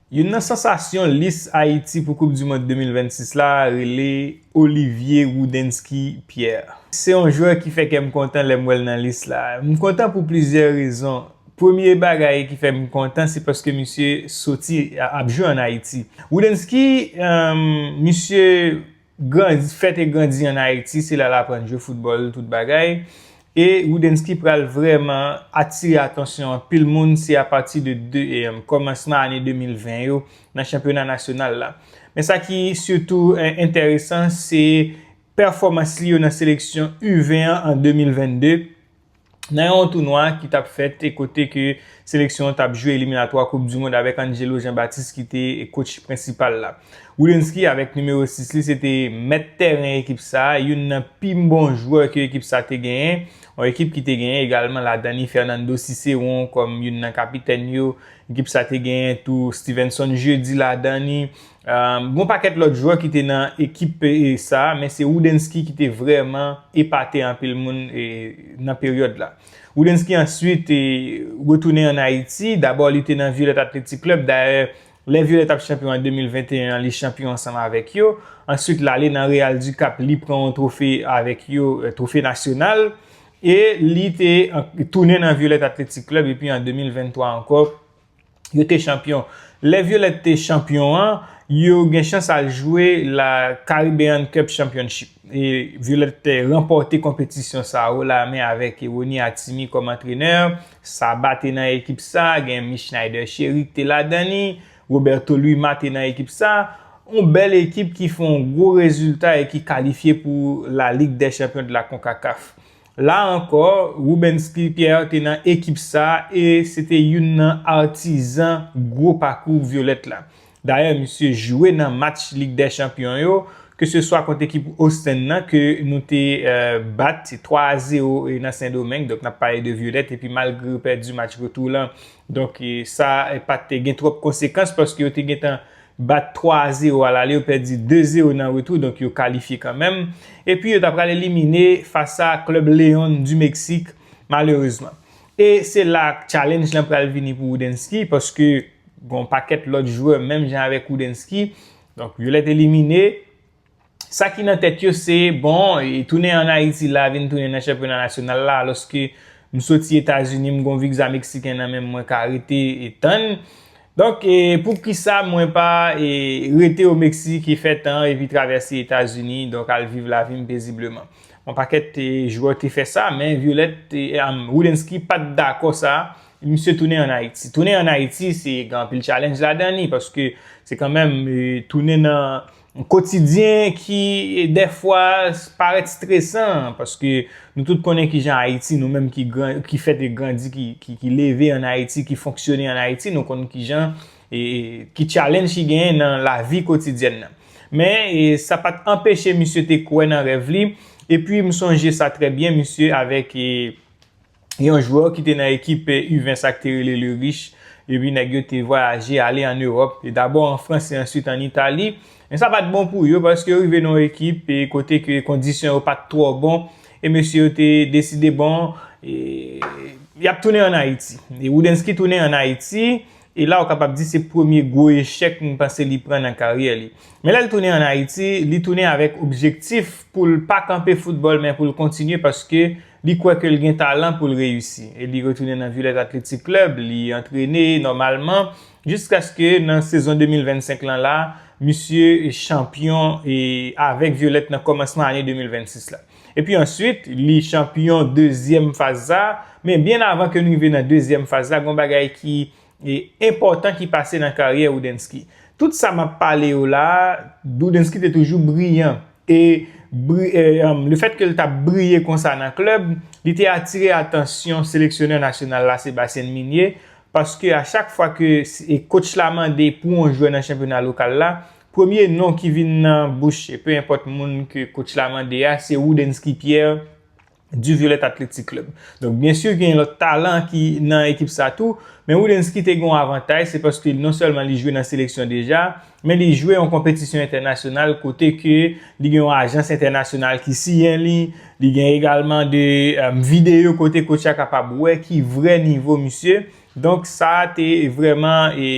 Youn nan sansasyon lis Ayiti pou koup du mond 2026 la rele Olivier Roudenski Pierre. Se yon jwè ki fè kè m kontan lè m wè l nan lis la. M kontan pou plizyè rezon. Premye bagay ki fè m kontan se paske misye soti ap jwe an Ayiti. Roudenski, misye Grandi, fèt e grandi an Ayiti, se la l aprann jwe foutbòl, tout bagay. E Roudensky pral vrèman atire atansyon anpil moun, se apati de kòmansman ane 2020 yo nan chanpyona nasyonal la. Men sa ki sitou enteresan, se pèfòmans li yo nan seleksyon U-20 an an 2022, nan yon tounwa ki t ap fèt e kote ke seleksyon an t ap jwe eliminatwa koup du mond avèk Angelo Jean Baptiste ki te kotch prensipal la. Woudensky avèk nimewo 6 li se te mèt tèren ekip sa, youn nan pi bon jwè ke ekip sa te genyen, yon ekip ki te genyen egalman ladan li Fernando Ciceron kòm youn nan kapitèn yo, ekip sa te genyen tou Stevenson Jeudi ladan li, Gon pakèt lòt jwè ki te nan ekip sa men se Roudensky ki te vrèman epate anpil moun nan peryòd la. Roudensky answit retounen an Ayiti, dabò li te nan Violette Athletic Club, dayè lè Violette ap chanpyon an 2021 an li chanpyon ansanm avèk yo, answit lale nan Real du Cap li pran yon twofe avèk yo, twofe nasyonal e li te tounen nan Violette Athletic Club epi an 2023 ankò. Yo te chanpyon. Lè Violette te chanpyon an, yo gen chans al jwe la Caribbean Cup Championship. E Violette te ranpòte konpetisyon sa a o-la-men avèk Rony Atimi kòm antrenè. Saba te nan ekip sa, gen Michnider Chery ki te ladan li. Roberto Luima te nan ekip sa. Yon bèl ekip ki fè yon gwo rezilta e ki kalifye pou la Ligue des Champions de la Concacaf. La ankò, Rubensky Pierre te nan ekip sa e se te youn nan atizan gwo pakou Violette la. Dayè misye jwe nan match Lig dè Chanpyon yo, ke se swa kont ekip Ostend nan ke nou te bat 3 a 0 nan Sendomeng, donk n ap pale de Violette, epi malgre yo pèdi match retou lan, Donk sa pa te gen twòp konsekans paske yo te gentan bat 3 a 0 alale yo pèdi 2 0 nan retou donk yo kalifye kanmenm. Epi yo ta pral elimine fas a klèb León di Meksik malerezman. E se la challenge lan pral vini pou Woudensky paske gon pakèt lòt jwè menm jan avèk Woudensky donk yo lèt elimine. sa ki nan tèt yo se bon e tounen an Ayiti la vin tounen nan chanpyona nasyonal la alòske m soti Etazini m gon vigza meksiken nan menm mwen ka rete e tann donk e poukisa mwen pa e rete o Meksik e fè tan epi travèse Etazini donk al viv lavi m pezibleman on pakèt e jwè te fè sa men Violette e am Woudensky pa t dakò sa e misye tounen an Ayiti tounen an Ayiti se gen anpil challenge ladan li paske se kanmenm e tounen nan. Yon kotidyen ki dèfwa parèt stresan, paske nou tout konnen ki jan Ayiti, nou menm ki fèt e grandi, ki leve an Ayiti, ki fonksyone an Ayiti, nou konnen ki jan, ki tchalenj ki genyen nan lavi kotidyèn nan. Men, sa pa t anpeche misye te kwè nan rèv li, epi m sonje sa trè byen, misye avèk. yon jwè ki te nan ekip U20 sa ki te rele Le Riche, epi nèg yo te vwayaje ale an Ewòp, dabò an Frans e answit an Itali, men sa pa t bon pou yo paske yo rive nan yon ekip kote ke kondisyon yo pa t twò bon e mesye yo te deside bon y ap tounen an Ayiti. E Roudensky tounen an Ayiti, e la ou kapab di se premye gwo echèk m panse li pran nan karyè li. Men lè l tounen an Ayiti, li tounen avèk objektif pou l pa kanpe foutbòl men pou l kontinye paske Li kwè ke l gen talan pou l reyisi e li retounen nan Village Athletic Club, li antrene nòmalman jiskaske nan sezon 2025 lan la, misye chanpyon avèk Violette nan kòmansman ane 2026 la. Epi answit, li chanpyon dezyèm faz sa, men byen avan ke n rive nan dezyèm faz la, gen yon bagay ki enpòtan ki pase nan karyè Roudensky. Tout sa m ap pale yo la a, Roudensky te toujou briyan. E lefètke l t ap briye konsa nan klèb, li te atire atansyon seleksyonè nasyonal la, Sébastien Migné, paske a chak fwa ke kotch la mande pou yon jwè nan chanpyona lokal la, premye non ki vin nan bouch, pe enpòt moun ke kotch la mande a, se Roudensky Pierre Du Violet Athletic Club. Donk byen sur gen lòt talan ki nan ekip sa tou, men Woudensky te gen yon avantaj se paske non sèlman li jwe nan seleksyon deja, men li jwe yon konpetisyon entènasyonal kote ke li gen yon ajans entènasyonal ki siyen li, li gen egalman de videyo kote coach la kapab wè ki vrè nivo misye, donk sa te vreman e.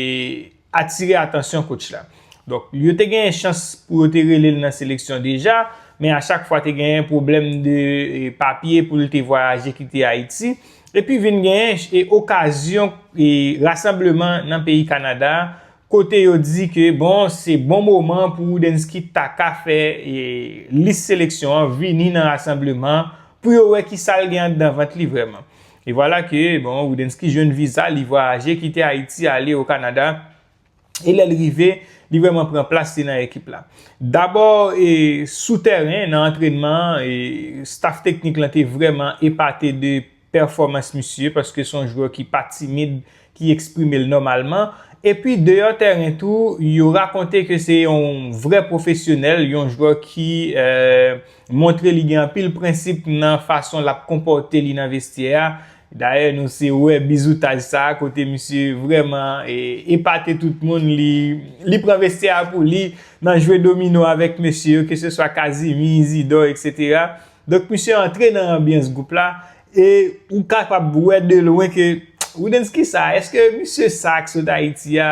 atire atansyon kotch la. Donk, yo te genyen chans pou yo te rele l nan seleksyon deja, men a chak fwa te genyen pwoblèm de papye pou l te vwayaje kite Ayiti. Epi vin genyen okazyon rasanbleman nan peyi Kanada a, kote yo di ke bon, se bon moman pou Woudensky ta ka fè lis seleksyon an vini nan rasanbleman pou yo wè ki sa l gen anndan vant li vrèman. E vwala ke, bon, Roudensky jwenn viza, li vwayaje kite Ayiti ale o Kanada, e lè l rive, li vrèman pran plas li nan ekip la. Dabò, e, sou tèren, nan antrènman an, e, staf teknik lan te vrèman epate de pèfòmans misye, paske se yon jwè ki pa timid, e, ki eksprime l nòmalman, epi deyò tèren tou yo rakonte ke se yon vrè pwofesyonèl, yon jwè ki montre li gen anpil prensip nan fason l ap konpòte li nan vestyè a, dayè nou se wè bizoutaj sa a kote misye vrèman epate tout moun, li pran vestyè a pou li nan jwe domino avèk mesye yo, keseswa Kazimi, Izidò, eksetera. Donk misye antre nan anbyans gwoup la, E ou kapab wè de lwen ke Roudensky sa, eske misye sa ki sot Ayiti a,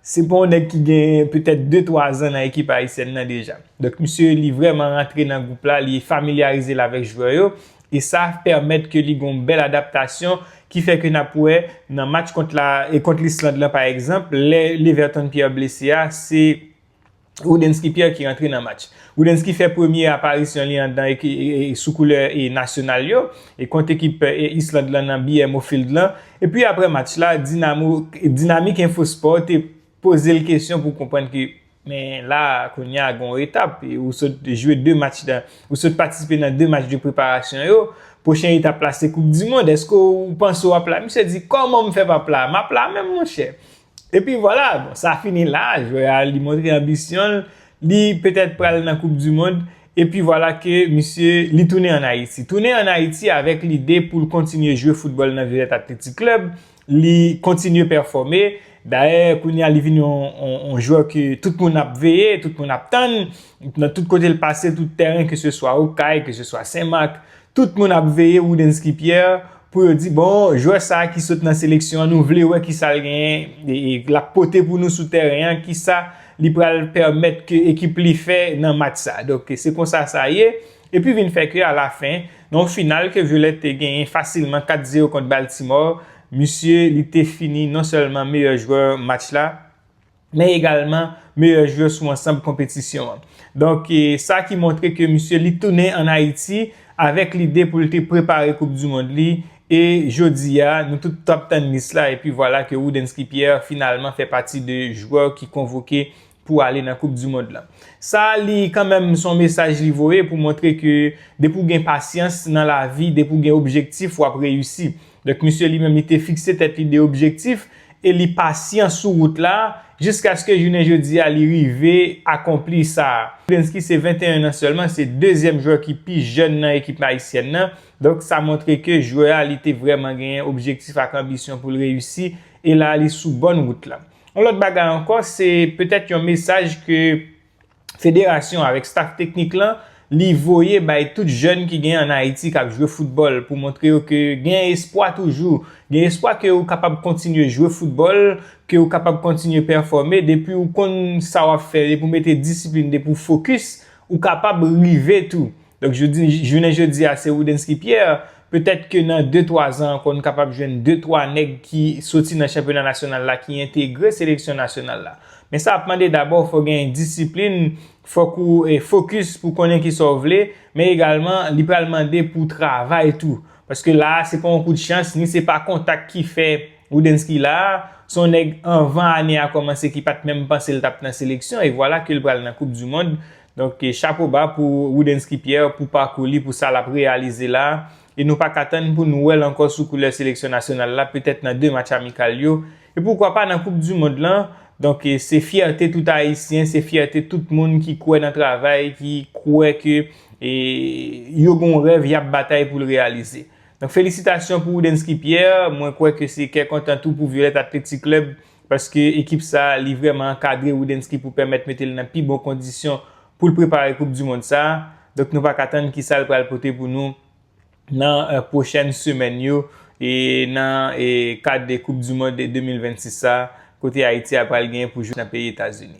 se pa yon nèg ki gen petèt de twa zan nan ekip ayisyèn nan deja. Donk misye li vrèman rantre nan gwoup la, li familyarize l avèk jwè yo, e sa pèmèt ke li gen yon bèl adaptasyon ki fè ke n ap wè nan match kont Lisland lan pa egzanp, lè Leverton Pierre blese a, se. Roudensky Pierre ki rantre nan match. Roudensky fè premye aparisyon li an dan sou koulè nasyonal yo e kont ekip Island lan nan BMO Field lan. Epi aprè match la, Dinamo, Dinamik Enfo Spò te poze l kesyon pou konprann ke men la kounye a gon etap, ou sot jwe 2 match nan, ou sot patisipe nan 2 match de preparasyon yo, pwochen etap la se koup dimond, èske ou panse w ap la? Misye di, kòman m fè pa p la? M ap la menm monchè. Epi vwala, bon sa fini la, jwè a li montre anbisyon l, li petèt pral nan koup di mond, epi vwala ke misye li tounen an Ayiti. Tounen an Ayiti avèk lide pou l kontinye jwe foutbòl nan Violet Athletic Club, li kontinye pèfòme, dayè kounye a li vin yon jwè ke tout moun ap veye, tout moun ap tann, nan tout kote l pase, tout tèren, keseswa Okay, keseswa Senmak, Tout moun ap veye Roudensky Pierre pou yo di bon jwè sa ki sot nan seleksyon an nou vle wè kisa l genyen lap pote pou nou sou tèren an kisa li pral pèmèt ke ekip li fè nan match sa donk se konsa sa ye epi vin fè ke alafen nan yon final ke Violette te genyen fasilman 4 zero kont Baltimore misye li te fini non sèlman meyè jwè match la. men egalman meyè jwè sou ansanb konpetisyon an. Donk sa ki montre ke misye li tounen an Ayiti avèk lide pou l te prepare koup di mond li e jodi a nou tout t ap tann lis la epi vwala ke Roudensky Pierre finalman fè pati de jwè ki konvoke pou ale nan koup di mond la. Sa li kanmenm son mesaj li voye pou montre ke depi w gen pasyans nan lavi, depi w gen objektif w ap reyisi. Donk misye li menm li te fikse tèt li 2 objektif e li pasyan sou wout la jiskaske jounen jodi a li rive akonpli sa. Bensky se 21 nan sèlman, se dezyèm jwè ki pi jèn nan ekip ayisyèn nan, donk sa montre ke jwè a li te vrèman genyen objektif ak anbisyon pou l reyisi e la a li sou bòn wout la. Yon lòt bagay ankò se petèt yon mesaj ke Federasyon avèk staf teknik lan li voye bay tout jèn ki gen an Ayiti k ap jwe foutbòl pou montre yo ke gen espwa toujou, gen espwa ke ou kapab kontinye jwe foutbòl, ke ou kapab kontinye pèfòme, depi ou konn sa w ap fè, depi ou mete disiplin, depi ou fokis, ou kapab rive tou. Donk jounen jodi a se Roudensky Pierre, petèt ke nan de twa zan ankò nou kapab jwenn de twa nèg ki soti nan chanpyona nasyonal la ki entegre seleksyon nasyonal la. Men sa ap mande dabò fò gen disiplin, fòk ou fokis pou konnen ki sa w vle, men egalman li pral mande pou w travay tou. Paske la a se pa yon kout chans, ni se pa kontak ki fè Roudensky la a, se yon nèg anvan ane a kòmanse ki pat menm panse l t ap nan seleksyon e vwala ke l pral nan koup dimond. Donk chapo ba pou Roudensky Pierre pou pakou li pou sa lap reyalize la e nou paka tann pou nou wèl ankò sou koulè seleksyon nasyonal la petèt nan 2 match amikal yo e poukwa pa nan koup du mond lan donk se fyète tout ayisyen se fyète tout moun ki kwè nan travay ki kwè ke yo gon rèv yap batay poul reyalize donk felisitasyon pou Roudensky Pierre mwen kwè ke se kè kontan tou pou Violette Athletic Club Paske ekip sa a li vrèman ankadre Rudensky pou pèmèt mete l nan pi bon kondisyon pou l prepare koup du mond sa a. Donk nou pa ka tann kisa l pral pote pou nou nan pwochèn semèn yo e nan kad koup du mond 2026 sa a kote Ayiti a pral genyen pou jwe nan peyi Etazini.